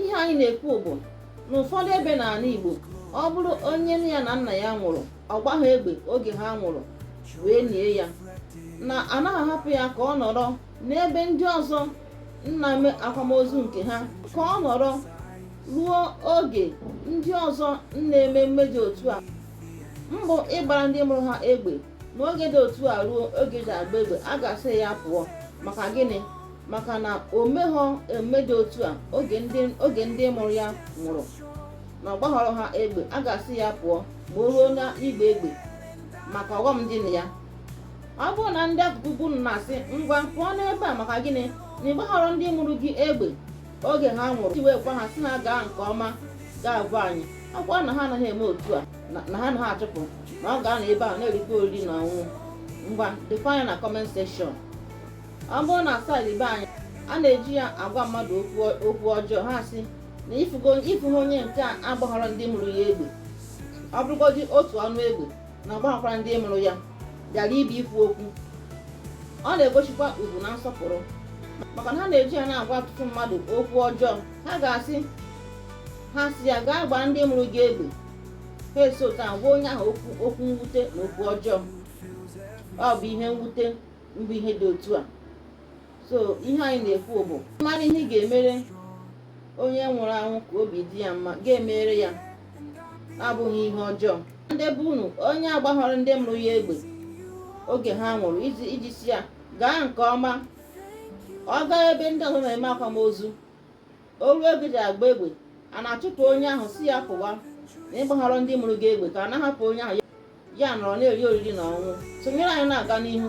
ihe anyị na-ekwu bụ na ụfọdụ ebe n'ala Igbo ọ bụrụ onye nne ya na nna ya nwụrụ ọ gbaghị egbe oge ha nwụrụ wee nie ya na anaghị ahapụ ya ka ọ nọrọ n'ebe ndị ọzọ na-eme akwamozu nke ha ka ọ nọrọ ruo oge ndị ọzọ na-eme mmemme dị otu a mbụ ịgbara ndị mụrụ ha egbe n'oge dị otu a ruo oge ji agba egbe a ga-asị ya pụọ maka gịnị maka na o meghọ mmemme dị otu a oge ndị mụrụ ya nwụrụ na ọ gbaghọrọ ha egbe a ga-asị ya pụọ ma o ruo na ịgba egbe maka ọghọm dị na ya ọ bụrụ na ndị akụkụ be unu na-asị ngwa pụọ n'ebe a maka gịnị na ị gbaghọrọ ndị mụrụ gị egbe oge ha nwụrụ iji wee gwa ha si na gaa nke ọma gị agwa anyị ọ bụkwa na ha anaghị eme otu a na ha anaghị achụpụ na ọ ga-anọ ebe a na-erikwa oriri na ọṅụṅụ ngwa defanye na comment section ọ bụrụ na side be anyị a na-eji ya agwa mmadụ okwu ọjọọ ha sị na ị fụgo onye nke a agbaghara ndị mụrụ ya egbe ọ bụrụgodị otu ọnụ egbe na ọ gbaghakwara ndị mụrụ ya bịara ịbịa ikwu okwu ọ na-egosikwa ugwu na nsọpụrụ maka na ha na-eji ya na-agwa ọtụtụ mmadụ okwu ọjọọ ha ga-asị ha si ya gaa gbaa ndị mụrụ gị egbe ha esi otu a gwa onye ahụ okwu mwute na okwu ọjọọ ọ bụ ihe mwute mbụ ihe dị otu a so ihe anyị na-ekwu bụ mara ihe ị ga-emere onye nwụrụ anwụ ka obi dị ya mma gị emere ya abụghị ihe ọjọọ ndị be unu onye agbaghọrọ ndị mụrụ ya egbe oge ha nwụrụ iji si ya gaa nke ọma ọ gaa ebe ndị ọzọ na-eme akwamozu o ruo oge ji agba egbe a na-achụpụ onye ahụ si ya pụwa na ị gbaghọrọ ndị mụrụ gị egbe ka a na-ahapụ onye ahụ ya anọrọ na-eri oriri na ọṅụṅụ sonyere anyị na-aga n'ihu